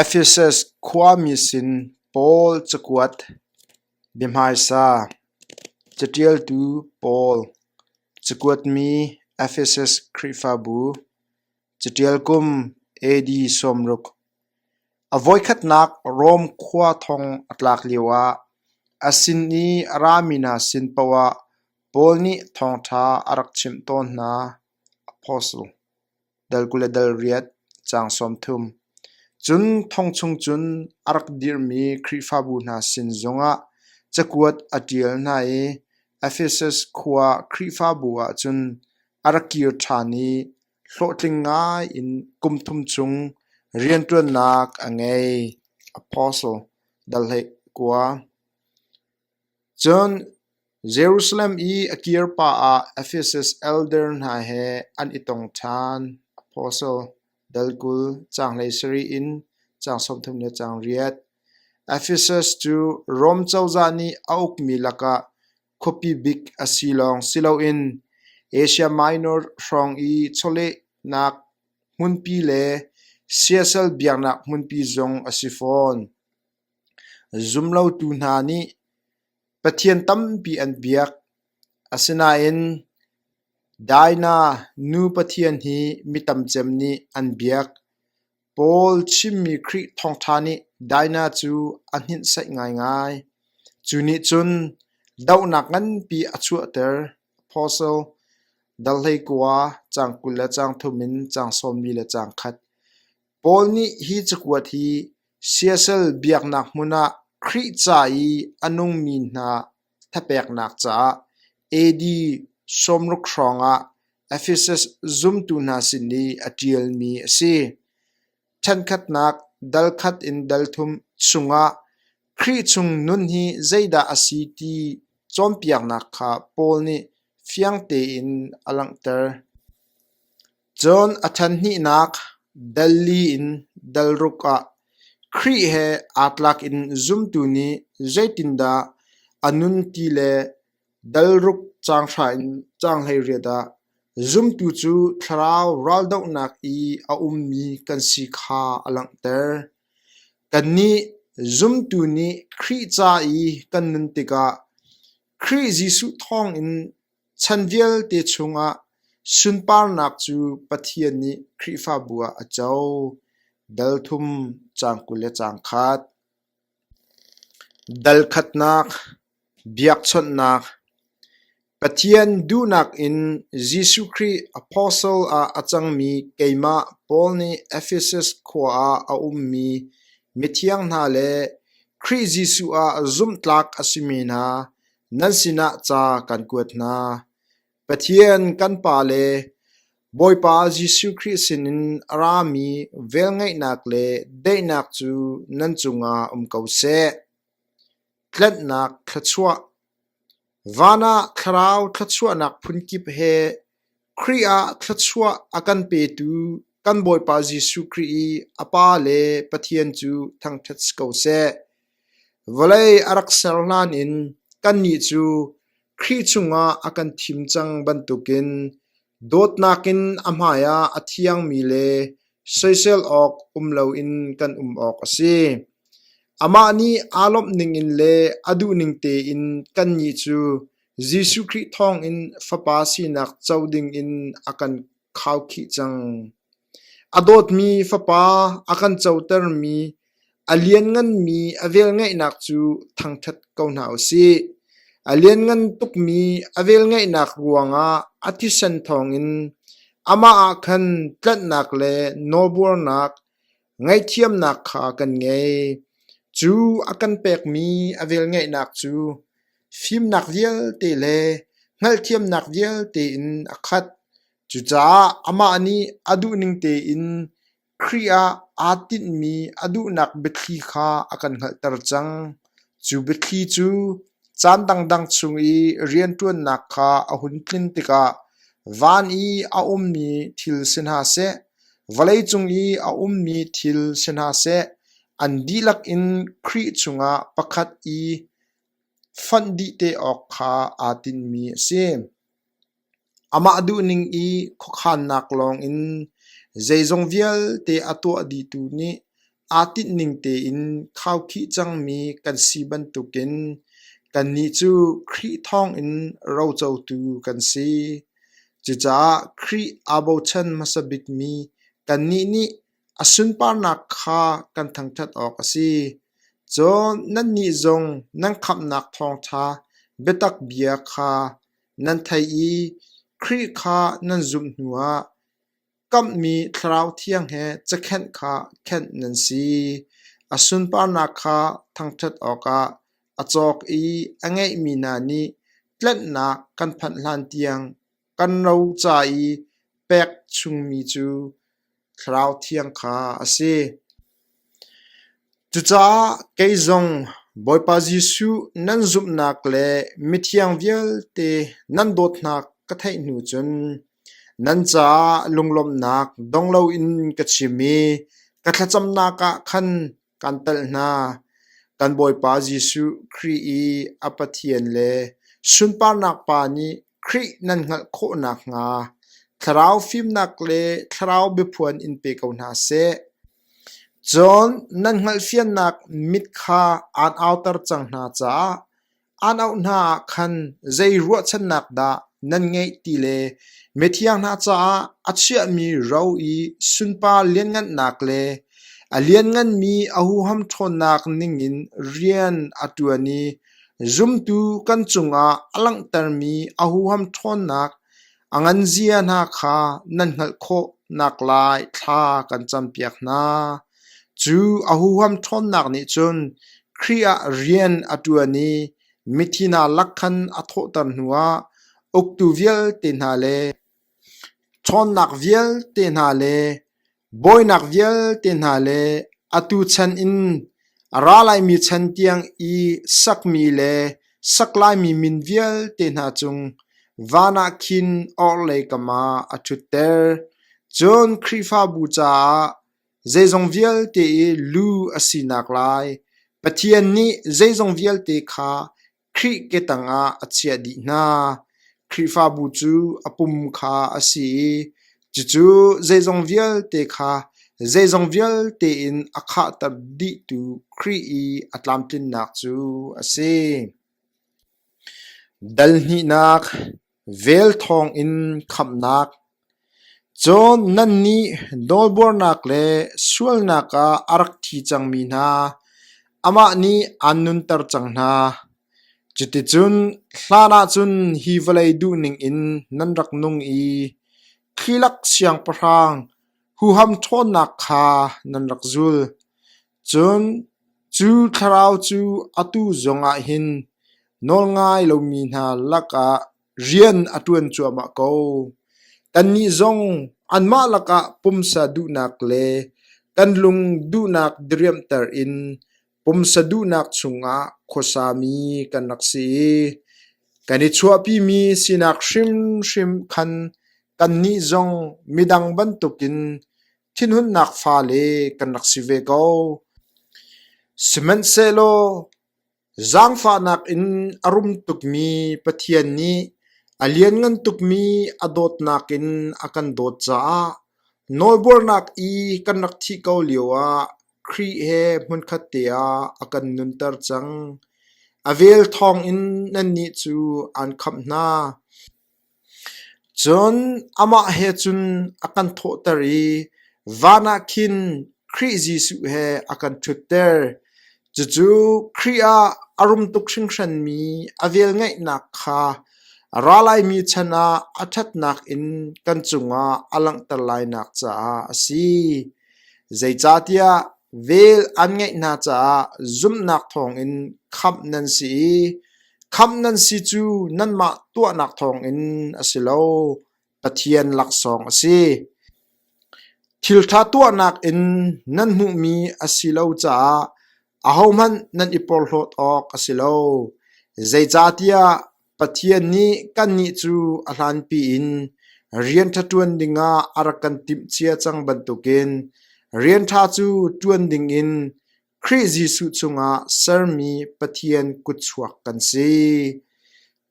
Efesus khuami sin Paul cakuat, biahmaisa, caṭialtu pawl, cakuatmi Efesus Khrihfabu, caṭial kum AD sawmruk. A voikhatnak Rom khua thong a tlak lioah a sin i a rami hna sin paohah Paul nih thawngṭha a rak chimh tawn hna. Apostle dal kul le dal riat, caang sawmthum. Cun thong chung cun a rak dirhmi Khrihfabu hna sin zongah cakuat a ṭial hna i Efesus khua Khrihfabu ah cun a rak kir ṭhan i hlawhtling ngai in kum thum chung rianṭuannak a ngei. Apostle dal hlei kua. Cun Jerusalem i a kirpa ah Efesus elder hna he an i tong ṭhan. Apostle dal kul caanglei sarih in caang sawmthum le caang riat. Efesus cu Rom cozah nih a ukmi lakah khuapi bik a si lawng si loin Asia Minor hrawng i chawlehnak hmunpi le siasal biaknak hmunpi zong a si fawn. Zumlotu hna nih Pathian tampi an biak, asinain Daina nu Pathian hi mi tamcem nih an biak. Paul chimmi Khrih thawngṭha nih Daina cu a hninhsaih ngaingai. Cu nih cun dohnak nganpi a chuahter. Apostle dal hlei kua, caang kul le caang thum in caang sawmli le caang khat. Paul nih hi cakuat hi siasal biaknak hmun ah Khrih ca i a nungmi hna thapeknak caah AD sawmruk hrawng ah Efesus zumtu hna sin i a ṭialmi a si. Ṭhenkhatnak dal khat in dal thum chungah Khrih chung nun hi zeidah a si ti cawnpiaknak kha Paul nih fiang tein a langhter. Cun a ṭhenhnihnak Delhi in Delruk ah Khrih he aa tlak in zumtu nih zeitindah a nun ti le Delruk caanghra in caanghleiriat ah zumtu cu thlarau raldohnak i a ummi kan si kha a langhter. Kannih zumtu nih Khrih ca i kan nun tikah Khrih Jesuh thawngin Chan vialte chungah sunparnak cu Pathian nih Khrihfabu ah a co, dal thum, caang kul le caang khat. Dal khatnak, biakchawnhnak. Pathian duhnak in Jesuh Khrih apostle ah a cangmi keimah Paul nih Efesus khua ah a ummi mithiang hna le Khrih Jesuh ah zumhtlak a si mi hna, Nan sinah ca kan kuat hna. Pathian kan Pa le Bawipa Jesuh Khrih sinin a rami velngeihnak le daihnak cu nan cungah um ko seh. Tlanhnak thluachuah Van ah Thlarau thluachuahnak phun kip he Khrih ah thluachuah a kan petu kan Bawipa Jesuh Khrih i a Pa le Pathian cu thangṭhat si ko seh. Vawlei a rak ser hlan in kannih cu Khrih chungah a kan thim cang bantukin dawtnak in a hmaiah a thiangmi le soisel awk um loin kan um awk a si. Amah nih aa lawmh ningin le a duh ning tein kannih cu Jesuh Khrih thawngin Fapa sinak co dingin a kan khaukhih cang. A dawtmi Fapa a kan cotermi, a liannganmi a velngeihnak cu thangṭhat ko hna u sih. A lianngan tukmi a velngeihnak ruangah a thisen thawngin amah ah khan tlanhnak le nawlbuarnak, Ngaihthiamnak kha kan ngei. Cu a kan pekmi a velngeihnak cu fimnak vialte le hngalhthiamnak vialte in a khat. Cucaah amah nih a duhning tein Khrih ah aa tinhmi a duhnak biathli kha a kan hngalhter cang. Cu biathli cu caan dangdang chung i rianṭuannak kha a hun tlin tikah van i a ummi thil si hna seh, vawleicung i a ummi thil si hna seh, an dihlak in Khrih chungah pakhat i fonh dih te awk kha aa tinmi a si. Amah duhning i khuakhannak lawngin zeizong vialte a tuah dihtu nih aa tinhning tein khaukhih cangmi kan si bantukin kannih cu Khrih thawngin rocotu kan si. Cucaah Khrih aa bochan hmasa bikmi kannih nih a sunparnak kha kan thangṭhat awk a si. Cun nannih zong nan khamhnak thawngṭha biatak bia kha Nan theih i Khrih kha nan zumh hnuah kamhmi Thlarau Thiang he cakhenh kha khenh nan si. A sunparnak kha thangṭhat awkah a cawk i a ngeihmi hna nih tlanhnak kan phanh hlan tiang kan ro ca i pek chungmi cu Thlarau Thiang kha a si. Cucaah kei zong Bawipa Jesuh nan zumhnak le mithiang vialte nan dawtnak ka theih hnu cun nan caah lunglawmhnak dong loin ka chim i ka thlacamnak ah khan Kan telh hna, kan Bawipa Jesuh Khrih i a Pathian le sunparnak Pa nih Khrih nan hngalh khawh nakhnga thlarau fimnak le thlarau biaphuan in pe ko hna seh. Cun nan hngalhfiannak mit kha aan auter cang hna caah Aan auh hna ah khan zei ruahchannak dah nan ngeih ti le mithiang hna caah a chiahmi ro i sunpar lianngannak le a liannganmi ohuham ṭhawnnak ningin rian a ṭuan i zumtu kan cungah a langhtermi ohuham ṭhawnnak a nganzia hna kha nan hngalh khawh naklai thla kan campiak hna. Cu a huham ṭhawnnak nih cun Khrih ah rian a ṭuan i mithi hna lak khan a thawhter hnuah uktu vialte hna le ṭhawnnak vialte hna le bawinak vialte hna le atu chan in a ra laimi chan tiang i sakmi le saklaimi min vialte hna cung van ah khin orhlei kamah a ṭhutter. Cun Khrihfabu caah Zeizong vialte i lu a sinak lai Pathian nih zeizong vialte kha Khrih ketang ah a chiah dih hna. Khrihfabu cu a pum kha a si i cucu zeizong vialte kha zeizong vialte in a khahter dihtu Khrih i a tlamtlinnak cu a si. Dal hnihnak Vel thawng in khamhnak, Cun nannih nawlbuarnak le sualnak ah a rak thi cangmi hna, amah nih aan nunter cang hna. Cuticun hlan ah cun hi vawlei duh ningin nan rak nung i Khilak siangpahrang huham ṭhawnnak kha nan rak zul. Cun cu thlarau cu atu zongah hin nawlngai lomi hna lakah rian a ṭuan cuahmah ko. Kannih zong anmah lakah pumsa duhnak le kan lung duhnak diriamhter in pumsa duhnak chungah khuasami kan rak si i kan i chuahpimi sinak hrimhrim khan kannih zong midang bantukin Thinhunnak fale kan rak si ve ko. Sihmanhsehlaw zaangfahnak in a rum tukmi Pathian nih a lianngan tukmi a dawtnak in a kan dawt caah nawlbuarnak i kan rak thih ko lioah Khrih he hmunkhat te ah a kan nunter cang. A vel thawng in nannih cu aan khamh hna. Cun amah he cun a kan thawhter i van ah khin Khrih Jesuh he a kan ṭhutter. Cucu Khrih ah a rum tuk hringhranmi a velngeihnak kha ra laimi chan ah a ṭhatnak in kan cungah a langhter lainak caah a si. Zeicahtiah vel an ngeih hna caah zumhnak thawngin khamh nan si i Khamh nan si cu nanmah tuahnak thawngin a si lo, Pathian laksawng a si. Thilṭha tuahnak in nan hmuhmi a si lo caah ahohmanh nan i porhlawt awk a si lo, zeicahtiah Pathian nih kannih cu a hlanpi in rian ṭha ṭuan dingah a rak kan timhcia cang bantukin rian ṭha cu ṭuan dingin Khrih Jesuh cungah sermi Pathian kutchuak kan si.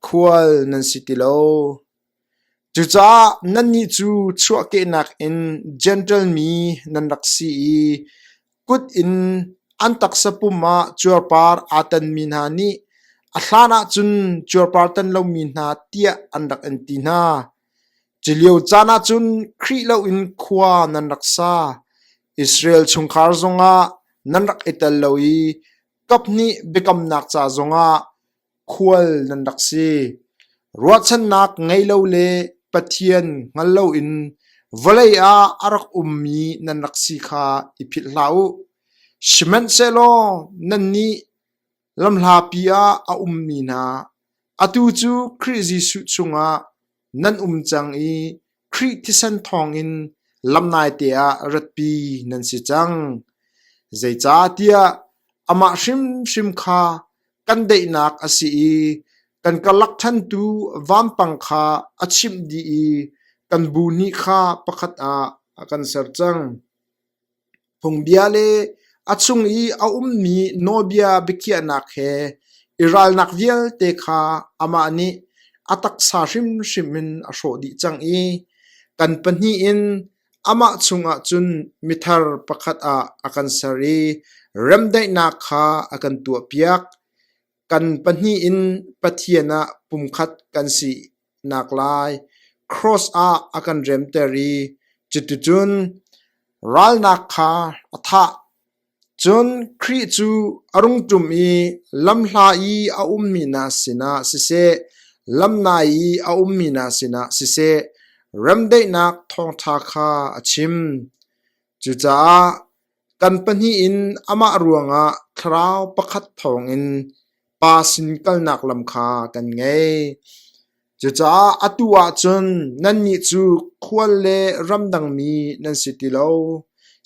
Khual nan si ti lo. Cucaah nannih cu chuahkehnak in Gentle mi nan rak si i kut in an taksa pum ah cuarpar aa tanmi hna nih a hlan ah cun cuarpar tan lomi hna tiah an rak in ti hna. Culio caan ahcun Khrih loin khua nan rak sa, Israel chungkhar zongah nan rak i tel lo i kaphnih biakamnak ca zongah khual nan rak si. Ruahchannak ngei lo le Pathian hngal loin vawlei ah a rak ummi nan rak si kha i philh hlah u. Sihmanhsehlaw nannih Lamhlapi ah a ummi hna, atu cu Khrih Jesuh chungah nan um cang i Khrih thisen thawngin lam naite ah ratpi nan si cang. Zeicahtiah amah hrimhrim kha kan daihnak a si i kan kalakṭhantu vampang kha a chimh dih i kan bu nih kha pakhat ah a kan ser cang. Phungbia le a chung i a ummi nawlbia biakhiahnak he i ralnak vialte kha amah nih a taksa hrimhrim in a hrawh dih cang i kan pahnih in amah chungah cun mithar pakhat ah a kan ser i remdaihnak kha a kan tuahpiak. Kan pahnih in Pathian ah pumkhat kan si. naklai cross ah a kan remter i cuticun ralnak kha a thah. Cun Khrih cu a rung ṭum i lamhla i a ummi hna sinah siseh, lam nai i a ummi hna sinah siseh, remdaihnak thawngṭha kha a chim. Cucaah Kan pahnih in amah ruangah thlarau pakhat thawngin pa sin kalnak lam kha kan ngei. Cucaah atu ah cun nannih cu khual le ramdangmi nan si ti lo,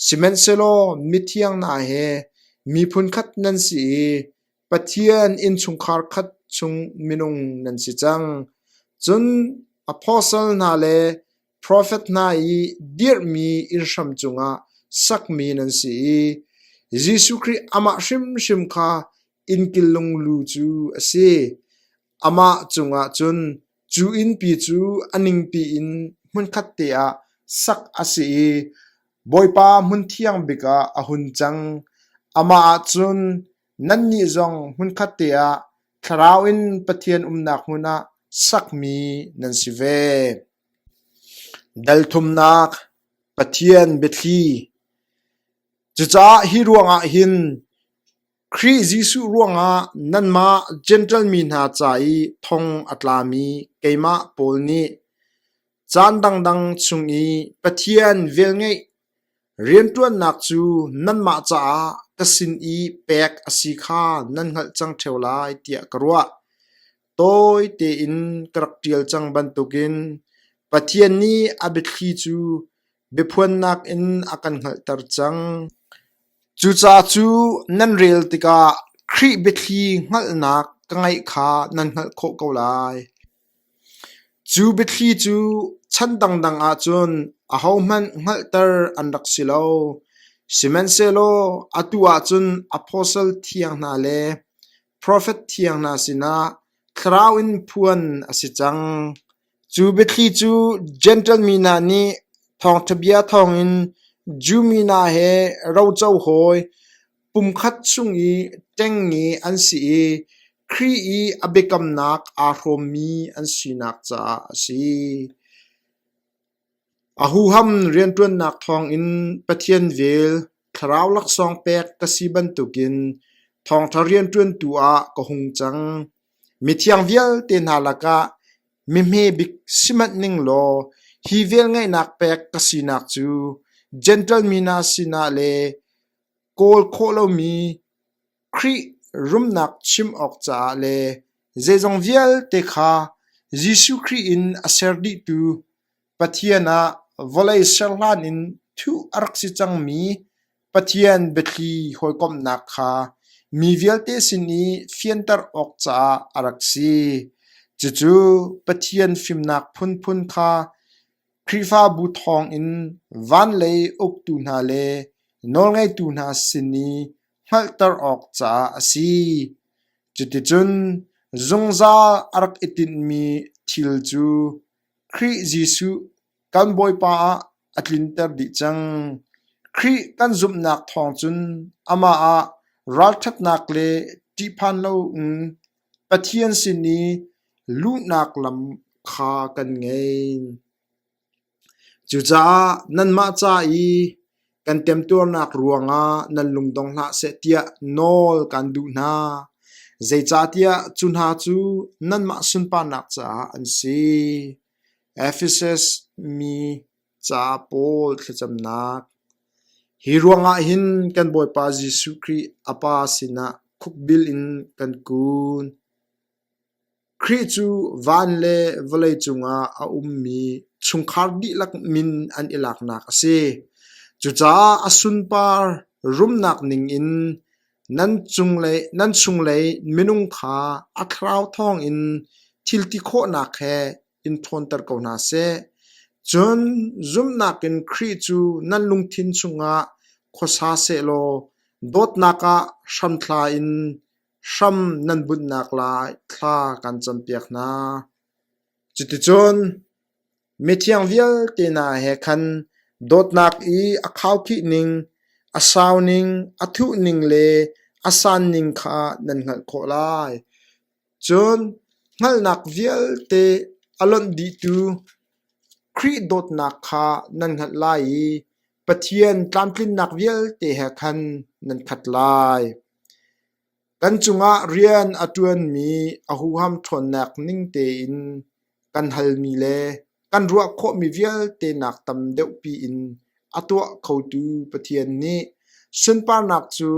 sihmanhsehlaw mithiang hna he miphun khat nan si i Pathian innchungkhar khat chung minung nan si cang. Cun apostle hna le Profet hna i dirhmi inn hram cungah sakmi nan si i Jesuh Khrih amah hrimhrim kha innkillung lu cu a si. Amah cungah cun cu innpi cu a ningpi in hmunkhat te ah sak a si i Bawipa hmun thiang bikah a hun cang. Amah ah cun Nannih zong hmunkhatte ah Thlarau in Pathian umnak hmun ah sakmi nan si ve. Dalthumnak, Pathian biathli. Cucaah hi ruangah hin Khrih Jesuh ruangah nanmah Jentail mi hna ca i thong a tlami keimah Paul nih caan dangdang chung i Pathian velngeih Rianṭuannak cu nanmah caah ka sin i pek a si kha nan hngalh cang ṭheo lai tiah ka ruah. Tawi tein ka rak ṭial cang bantukin Pathian nih a biathli cu biaphuannak in a kan hngalhter cang. Cucaah cu nan rel tikah Khrih biathli hngalhnak ka ngeih kha nan hngalh khawh ko lai. Cu biathli cu chan dangdang ahcun ahohmanh hngalhter an rak si lo, sihmanhsehlaw atu ahcun apostle thiang hna le profet thiang hna sinah thlarau in phuan a si cang. Cu biathli cu Jentail mi hna nih thawngṭhabia thawngin Jew mi hna he roco hawi Pumkhat chung i ṭengnge an si i Khrih i a biakamnak aa hrawmmi an sinak caah a si. A huham rianṭuannak thawngin Pathian vel thlarau laksawng pek ka si bantukin thawngṭha rianṭuantu ah ka hung cang. Mithiang vialte hna lakah mehme bik si manh ning law hi velngeihnak pek ka sinak cu Jentail mi hna sinah le kawl khawh lomi Khrih rumnak chim awk caah le zeizong vialte kha Jesuh Khrih in a ser dihtu Pathian ah vawlei ser hlan in thuh a rak si cangmi Pathian biathli hawikomhnak kha mi vialte sin i fianter awk caah a rak si. Cucu Pathian fimnak phunphun kha Khrihfabu thawngin van lei uktu hna le nawlngeitu hna sin i hngalhter awk caah a si. Cuticun zungzal a rak i tinhmi thil cu Khrih Jesuh kan Bawipa ah a tlinter dih cang. Khrih kan zumhnak thawng cun amah ah ralṭhatnak le ṭihphan lo in Pathian sin i luhnak lam kha kan ngei. Cucaah nanmah ca i kan temtuarnak ruangah nan lungdong hlah seh tiah nawl kan duh hna. Zeicahtiah cu hna cu nanmah sunparnak caah an si. Efesus mi Ca pawl thlacamnak Hi ruangah hin kan Bawipa Jesuh Khrih a Pa sinah khukbil in kan kun. Khrih cu van le vawlei cungah a ummi chungkhar dihlak min an i laknak a si. Cucaah a sunpar rumnak ningin nan cunglei nan chunglei minung kha a thlarau thawngin thilti khawhnak he in ṭhawnter ko hna seh. Cun zumhnak in Khrih cu nan lungthin chungah khuasa sehlaw dawtnak ah hramthla in hram nan bunhnak lai thla kan campiak hna. Cuticun mithiang vialte hna he khan dawtnak i a khaukhih ning, a sau ning, a thuh ning le a san ning kha nan hngalh khawh lai. Cun hngalhnak vialte a lonh dihtu Khrih dawtnak kha nan hngalh lai i Pathian tlamtlinnak vialte he khan nan khat lai. Kan cungah rian a ṭuanmi a huham ṭhawnnak ning tein Kan halmi le kan ruah khawhmi vialte nak tam deuhpi in a tuah khotu Pathian nih sunparnak cu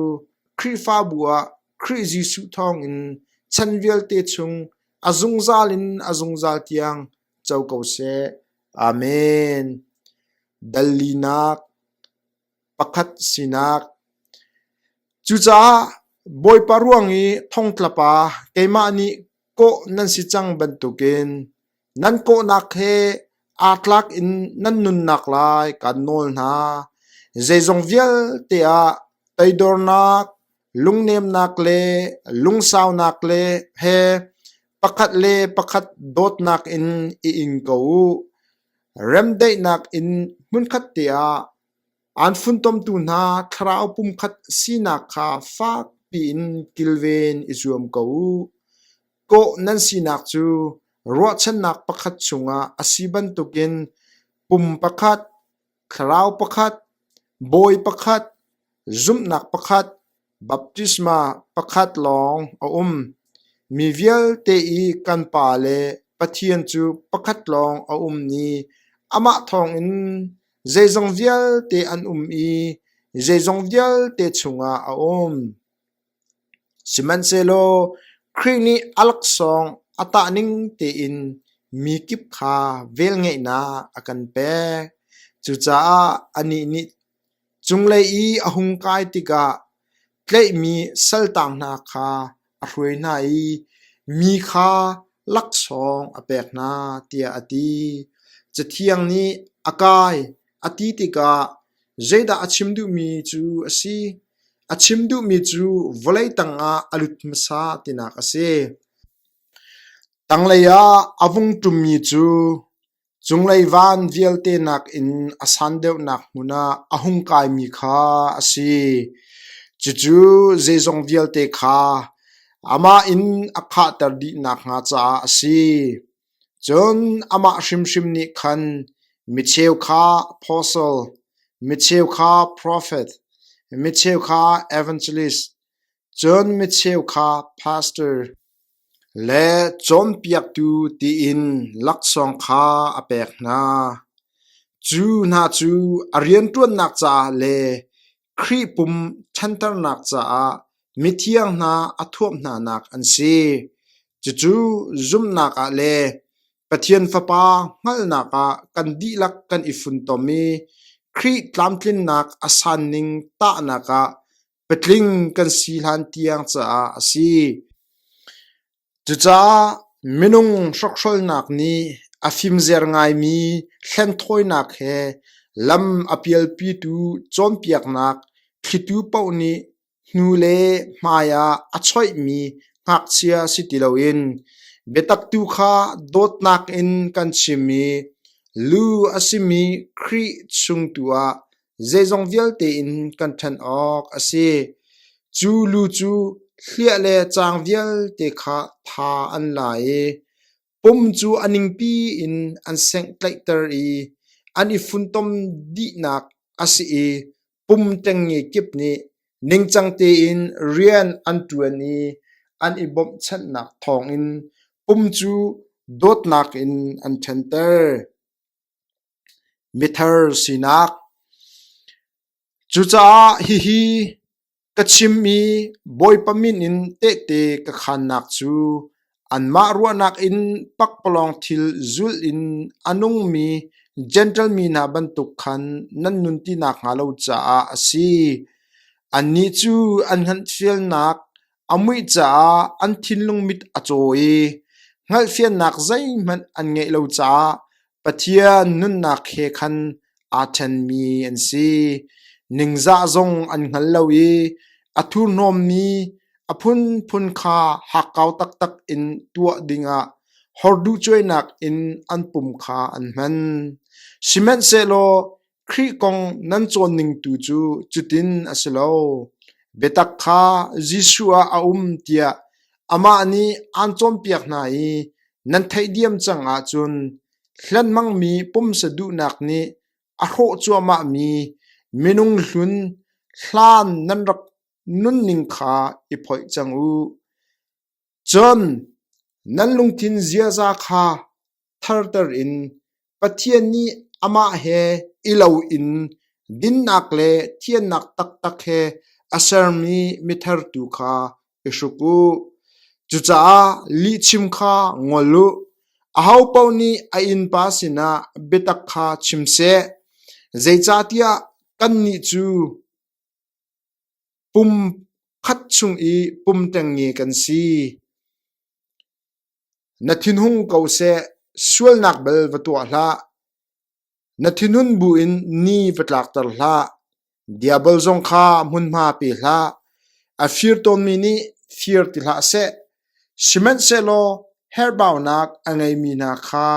Khrihfabu ah Khrih Jesuh thawngin chan vialte chung a zungzal in a zungzal tiang co ko seh. Amen. Dal linak pakhat sinak. Cucaah Bawipa ruang i thongtlapa keimah nih kawh nan si cang bantukin nan kawhnak he aa tlak in nan nunnak lai kaan nawl hna. Zeizong vialte ah toidornak, Lungnemnak le lungsaunak le he pakhat le pakhat dawtnak in i ing ko u. Remdaihnak in hmunkhat te ah aan funtomtu hna thlarau pumkhat sinak kha fakpi in kilven i zuam ko u. Kawh nan sinak cu ruahchannak pakhat chungah a si bantukin pum pakhat, Thlarau pakhat, Bawi pakhat, zumhnak pakhat, baptisma pakhat lawng a um. Mi vialte i kan Pa le Pathian cu pakhat lawng a um i amah thawngin zeizong vialte an um i zeizong vialte chungah a um. Sihmanhsehlaw Khrih nih a laksawng a tah ning tein mi kip kha velngeihnak a kan pek. Cucaah anih nih cunglei i a hung kai tikah tlaihmi saltang hna kha a hruai hna i mi kha laksawng a pek hna, tiah a ti. Cathiang nih, A kai, a ti tikah, Zeidah a chim duhmi cu a si? A chim duhmi cu vawlei tangah a lut hmasa tinak a si. Tanglei ah a vung ṭummi cu cunglei van vialte nakin a san deuhnak hmun ah a hung kaimi kha a si. Cucu zeizong vialte kha amah in a khahter dih nakhnga caah a si. Cun amah hrimhrim nih khan micheu kha apostle, micheu kha profet, micheu kha evangelist, cun micheu kha pastor le cawnpiaktu tiin laksawng kha a pek hna. Cu hna cu a rianṭuannak caah le Khrih pum ṭhanternak caah mithiang hna a thuamh hnanak an si. Cucu zumhnak ah le Pathian Fapa hngalhnak ah kan dihlak kan i funtom i Khrih tlamtlinnak a sanning tahnak ah patling kan si hlan tiang caah a si. Cucaah minung hrokhrawlnak nih a fimzer ngaimi hlenthawinak he lam a pialpitu cawnpiaknak thlitu paoh nih hnu le hmai ah a choihmi ngakchia si ti loin biatak tu kha dawtnak in kan chim i lu a simi Khrih chung tu ah Zeizong vialte in kan ṭhen awk a si. Cu lu cu hliah le caang vialte kha tha an la i pum cu a ningpi in an senghtlaihter i an i funtom dihnak a si i pum ṭengnge kip nih ningcang tein rian an ṭuan i an i bawmhchanhnak thawngin pum cu dawtnak in an ṭhenter. Mithar sinak Cucaah hihi ka chim i Bawipa min in tehte ka khaannak cu anmah ruahnak in pakpalawng thil zulh in a nungmi Jentail mi hna bantuk khan nan nun ti nakhnga lo caah a si. Annih cu an hngalhthiamnak A muih caah an thinlung mit a caw i hngalhfiannak zeihmanh an ngeih lo caah Pathian nunnak he khan aa ṭhenmi an si. Ningzah zong an hngal lo i a thurhnawmmi a phunphun kha hakkau taktak in tuah dingah horduhcuainak in an pum kha an hman. Sihmanhsehlaw Khrih kong nan cawnning tu cu cutin a si lo. Biatak kha Jesuh ah a um tiah amah nih aan cawnpiak hna i nan theidiem cang ahcun hlanmangmi pumsa duhnak nih a hrawh cuahmahmi minung hlun hlan nan rak nunning kha i phoih cang u. Cun nan lungthin ziaza kha tharter in Pathian nih amah he i loin dinnak le thiannak taktak he a sermi mithertu kha i hruk u. Cucaah lihchim kha ngol u. Ahopaoh nih a innpa sinah biatak kha chim seh, zeicahtiah kannih cu Pum khat chung i pum ṭengnge kan si. Na thinhung ko seh, sualnak bel va tuah hlah. Na thinhun buin ni va tlakter hlah. Diabol zong kha hmunhma pe hlah. A fir tawnmi nih fir ti hlah seh, sihmanhsehlaw herhbaunak a ngeimi hna kha.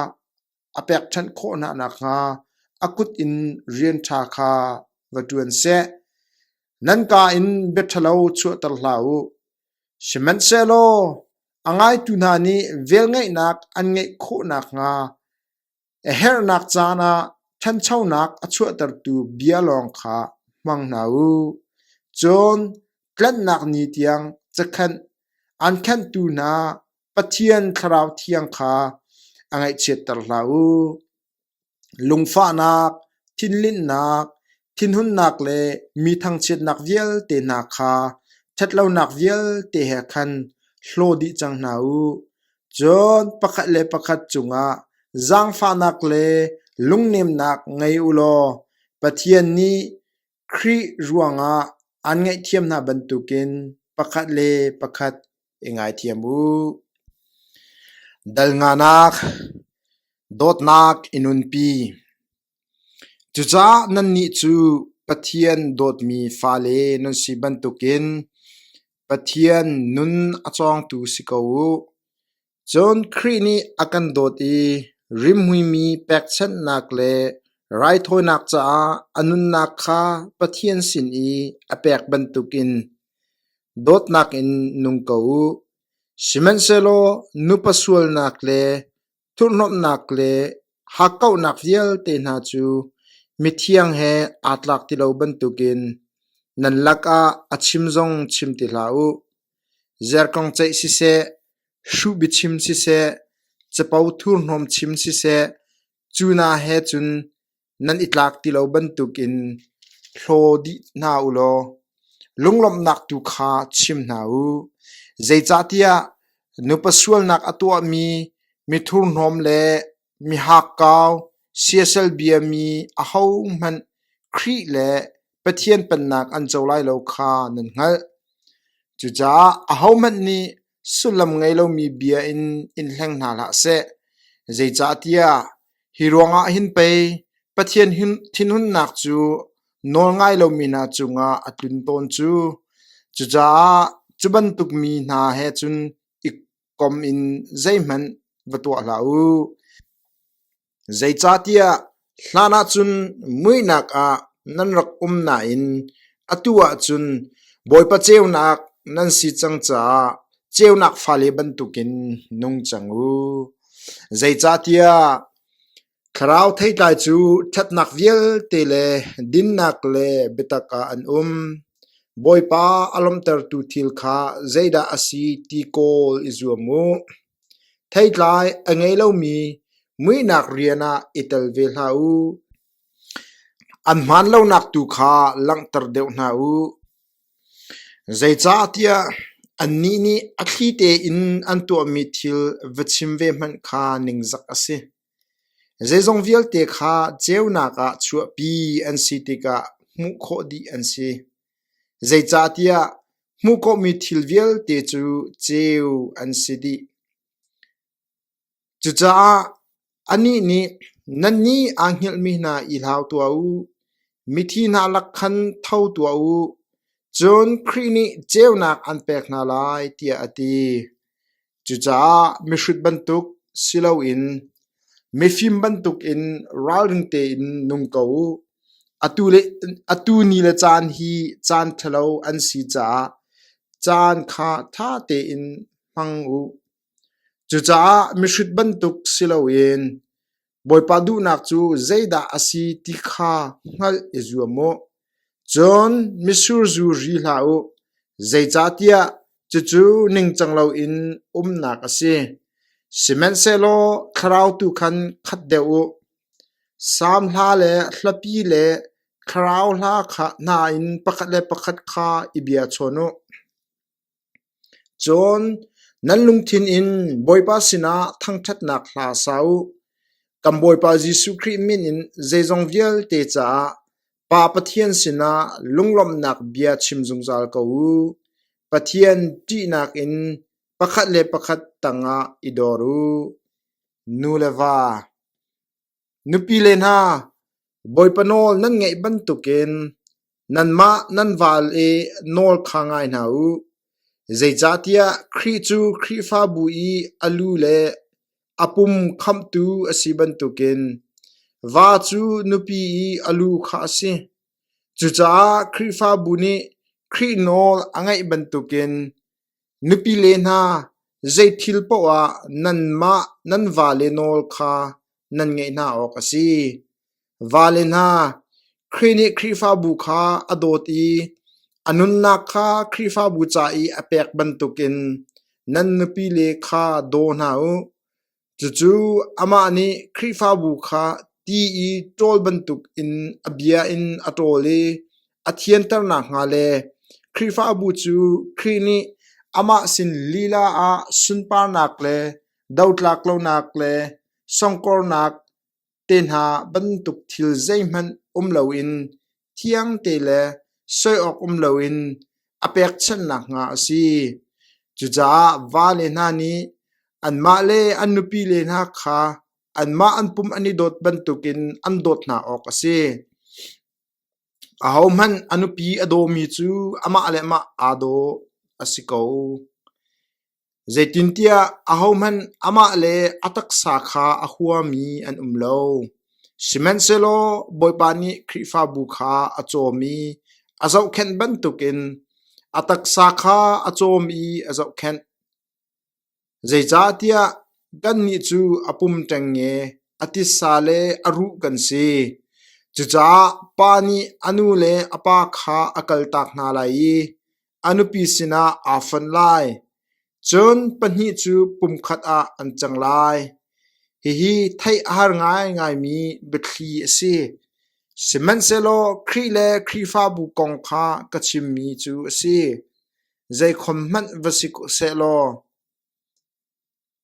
a pekṭhenh khawh hna nakhnga a kut in rian ṭha kha va ṭuan seh. Nan ka in biaṭhalo chuahter hlah u. Sihmanhsehlaw a ngaitu hna nih velngeihnak an ngeih khawh nakhnga a herhnak caan ah ṭhanchonak a chuahtertu bia lawng kha hmang hna u. Cun tlanhnak ni tiang cakhenh an khenhtu hna Pathian thlarau thiang kha a ngaihchiatter hlah u. Lungfahnak, thinlinhnak, thinhunnak le mi thangchiatnak vialte hna kha ṭhatlonak vialte he khan hlaw dih cang hna u. Cun pakhat le pakhat cungah zaangfahnak le lungnemnak ngei u law Pathian nih Khrih ruangah aan ngaihthiam hna bantukin pakhat le pakhat i ngaithiam u. Dalnganak, dawtnak i nunpi. Cucaah nannih cu Pathian dawtmi fale nan si bantukin Pathian nun a cawngtu si ko u. Cun Khrih nih a kan dawt i rimhuimi pekchanhnak le raithawinak caah a nunnak kha Pathian sin i a pek bantukin dawtnak in nung ko u. Sihmanhsehlaw nupa sualnak le thurhnomhnak le hakkauhnak vialte hna cu mithiang he aa tlak ti lo bantukin nan lakah a chim zong chim ti hlah u. Zerkong ceih siseh, hruh biachim siseh, capo thurhnawm chim siseh, cu hna he cun nan i tlak ti lo bantukin hlaw dih hna u law lunglawmhnak tu kha chim hna u. Zeicahtiah nupa sualnak a tuahmi mithurhnawm le Mihakkau, siasal biami ahohmanh Khrih le Pathian pennak an co lai lo kha nan hngalh. Cucaah ahohmanh nih sullam ngei lomi bia in in hleng hna hlah seh. Zeicahtiah hi ruangah hin pei Pathian thinhunnak cu nawlngai lomi hna cungah a tlun tawn cu. Cucaah cu bantuk mi hna he cun i kom in zeihmanh va tuah hlah u. Zeicahtiah hlan ah cun muihnak ah nan rak um nain atu ah cun Bawipa ceunak nan si cang caah ceunak fale bantukin nung cang u. Zeicahtiah Thlarau theitlai cu ṭhatnak vialte le dinnak le biatak ah an um. Bawipa a lawmhtertu thil kha zeidah a si ti kawl i zuam u. Theitlai a ngei lomi muihnak rian ah i tel ve hlah u. An hmaan lonak tu kha langhter deuh hna u. Zeicahtiah annih nih a thli tein an tuahmi thil va chim ve hmanh kha ningzak a si. Zeizong vialte kha ceunak ah chuahpi an si tikah hmuh khawh dih an si. Zeicahtiah hmuh khawhmi thil vialte cu ceu an si dih. Cucaah anih nih, “Nannih aa hngilhmi hna i hlau tuah u. Mithi hna lak khan tho tuah u, cun Khrih nih ceunak an pek hna lai,” tiah a ti. Cucaah mihrut bantuk si loin mifim bantukin ralring tein nung ko u. Atu ni le caan hi caan ṭhalo an si caah caan kha ṭha tein hmang u. Cucaah mihrut bantuk si loin Bawipa duhnak cu zeidah a si ti kha hngalh i zuam u. Cun mitsur zu ri hlah u, zeicahtiah cucu ningcang loin umnak a si. Sihmanhsehlaw thlarau tu khan khat deuh u. Salm hla le hlapi le thlarau hla hna in pakhat le pakhat kha i bia chawn u. Cun nan lungthin in Bawipa sinah thangṭhatnak hla sa u. Kan Bawipa Jesuh Khrih min in zeizong vialte caah Pa Pathian sinah lunglawmhnak bia chim zungzal ko u. Pathian ṭihnak in pakhat le pakhat tangah i dor u. Nu le va, Nupile hna, Bawipa nawl nan ngaih bantukin nanmah nan val i nawl kha ngai hna u. Zeicahtiah Khrih cu Khrihfabu i a lu le a pum khamhtu a si bantukin va cu nupi i a lu kha a si. Cucaah Khrihfabu nih Khrih nawl a ngaih bantukin Nupile hna, zeithil paoh ah nanmah nan vale nawl kha nan ngaih hna awk a si. Vale hna, Khrih nih Khrihfabu kha a dawt i a nunnak kha Khrihfabu ca i a pek bantukin nan nupile kha daw hna u. Cucu amah nih Khrihfabu kha ti i ṭawl bantukin a bia in a ṭawl i a thianter nakhnga le Khrihfabu cu Khrih nih amah sin lila ah sunparnak le dotlak lonak le songkornak, Tehna bantuk thil zeihmanh um loin thiangte le soi awk um loin a pekchanh nakhnga a si. Cucaah va le hna nih anmah le an nupile hna kha anmah an pum an i dawt bantukin an dawt hna awk a si. Ahohmanh a nupi a dawmi cu amah le amah aa daw a si ko. Zeitintiah ahohmanh amah le a taksa kha a huami an um lo; sihmanhsehlaw Bawipa nih Khrihfabu kha a cawm i a zohkhenh bantukin a taksa kha a cawm i a zohkhenh. Zeicahtiah kannih cu a pum ṭengnge, a titsa le a ruh kan si. Cucaah Pa nih a nu le a pa kha a kaltak hna lai i a nupi sinah aa fon lai. Cun pahnih cu pumkhat ah an cang lai. Hihi theih a har ngaingaimi biathli a si. Sihmanhsehlaw Khrih le Khrihfabu kong kha ka chimmi cu a si. Zeikhom hmanh va si seh law,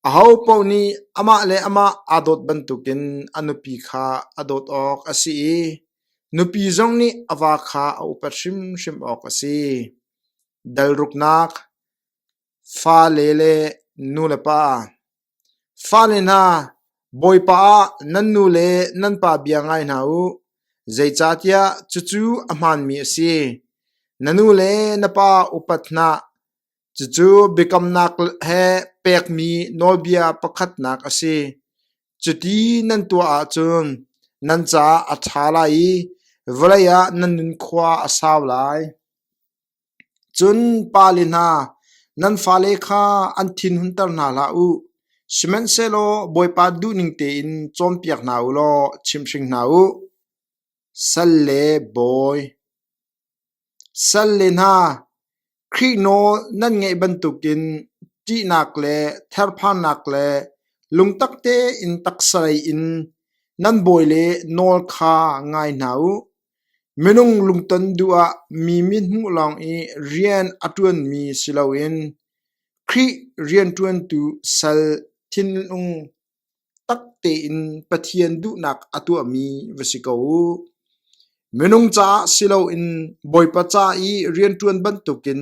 Ahopaoh nih amah le amah aa dawt bantukin a nupi kha a dawt awk a si i nupi zong nih a va kha a upat hrimhrim awk a si. Dalruknak Fale le nulepa Fale hna, Bawipa ah nan nu le nan pa bia ngai hna u, zeicahtiah cucu a hmaanmi a si. Na nu le na pa upat hna. Cucu biakamnak he pekmi nawlbia pakhatnak a si. Cuti nan tuah ahcun nan caah a ṭha lai i vawlei ah nan nunkhua a sau lai. Cun pale hna, nan fale kha an thinhunter hna hlah u. Sihmanhsehlaw Bawipa duhning tein cawnpiak hna u law chimhring hna u. Salle bawi Salle hna, Khrih nawl nan ngaih bantukin ṭihnak le therphannak le lungtak tein taksalei in nan bawi le nawl kha ngai hna u. Minung lungton duh ah mi mithmuh lawng i rian a ṭuanmi si loin Khrih rianṭuantu sal thinlung. Tak tein Pathian duhnak a tuahmi va si ko u. Minung caah si loin Bawipa ca i rianṭuan bantukin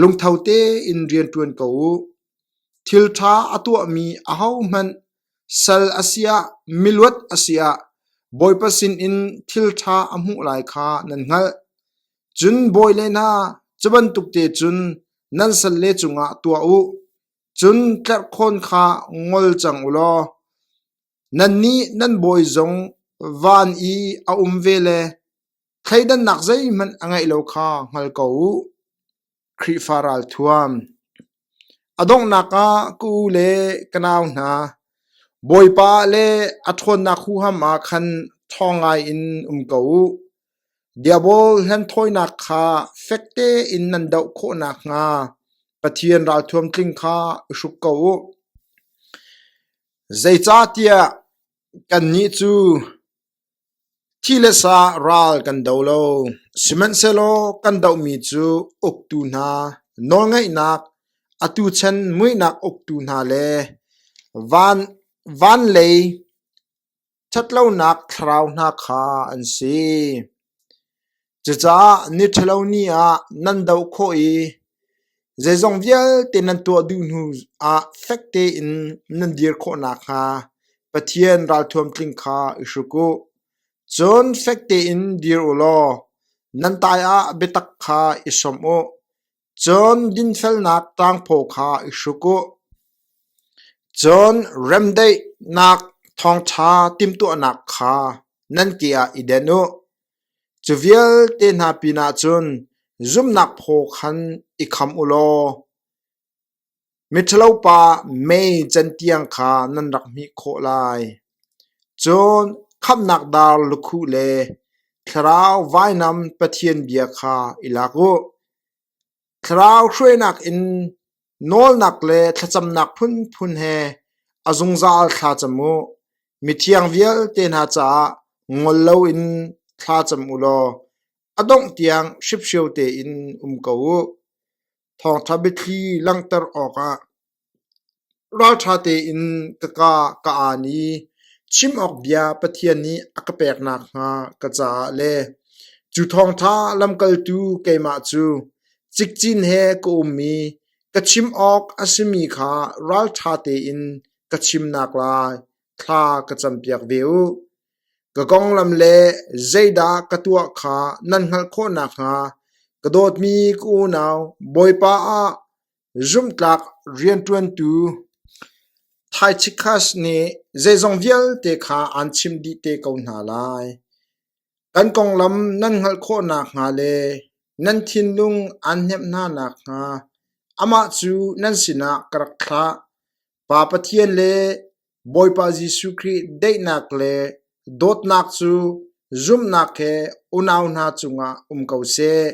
lungtho tein rianṭuan ko u. Thilṭha a tuahmi ahohmanh sal a si ah miluat a si ah Bawipa sinin thilṭha a hmuh lai kha nan hngalh. Cun bawi le hna, cu bantuk te cun nan salle cungah tuah u. Cun tlerhkhawn kha ngol cang u law nannih nan bawi zong van i a um ve le thleidannak zeihmanh a ngeih lo kha hngal ko u. Khrihfa ralthuam, a donghnak ah ka u le ka nau hna, Bawipa le a ṭhawnnak huham ah khan ṭhawng ngaiin um ko u. Diabol hlenthawinak kha fek tein nan doh khawh nakhnga Pathian ralthuam tling kha i hruk ko u. Zeicahtiah kannih cu thi le sa ral kan do lo, sihmanhsehlaw kan dohmi cu uktu hna, nawlngaihnak, atu chan muihnak uktu hna le van lei Ṭhatlonak thlarau hna kha an si. Cucaah ni ṭhalo ni ah nan doh khawh i zeizong vialte nan tuah duh hnu ah fek tein nan dir khawh nakhnga Pathian ralthuam tling kha i hruk u. Cun fek tein dir u law nan taiah biatak kha i som u. Cun dinfelnak tangphaw kha i hruk u. Cun remdaihnak thawngṭha timhtuahnak kha nan ke ah i den u. Cu vialte hna pinah cun zumhnak phaw khan i kham u law, Miṭhalopa mei cantiang kha nan rak hmih khawh lai. Cun khamhnak dar lukhuh le thlarau vainam pathian bia kha i lak u. Thlarau hruainak in nawlnak le thlacamnak phunphun he a zungzal thla cam u. Mithiang vialte hna caah ngol loin thla cam u law a dongh tiang hriphrio tein um ko u. Thawngṭha biathli langhter awkah ralṭha tein ka ka ka aan i chim awk bia Pathian nih a ka pek nakhnga ka caah le cu thawngṭha lamkaltu keimah cu cikcin he ka um i ka chim awk a simi kha ralṭha tein ka chimnak lai thla ka campiak ve u. Ka konglam le zeidah ka tuah kha nan hngalh khawh nakhnga ka dawtmi ka unau Bawipa ah zumhtlak rianṭuantu Taichikhas nih zeizong vialte kha aan chim dih te ko hna lai. Kan konglam nan hngalh khawh nakhnga le nan thinlung aan hnemh hna nakhnga amah cu nan sinah ka rak thlah. Pa Pathian le Bawipa Jesuh Khrih daihnak le dawtnak cu zumhnak he unau hna cungah um ko seh.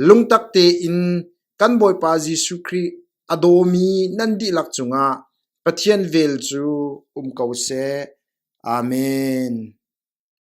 Lungtak tein kan Bawipa Jesuh Khrih a dawmi nan dihlak cungah Pathian vel cu um ko seh. Amen.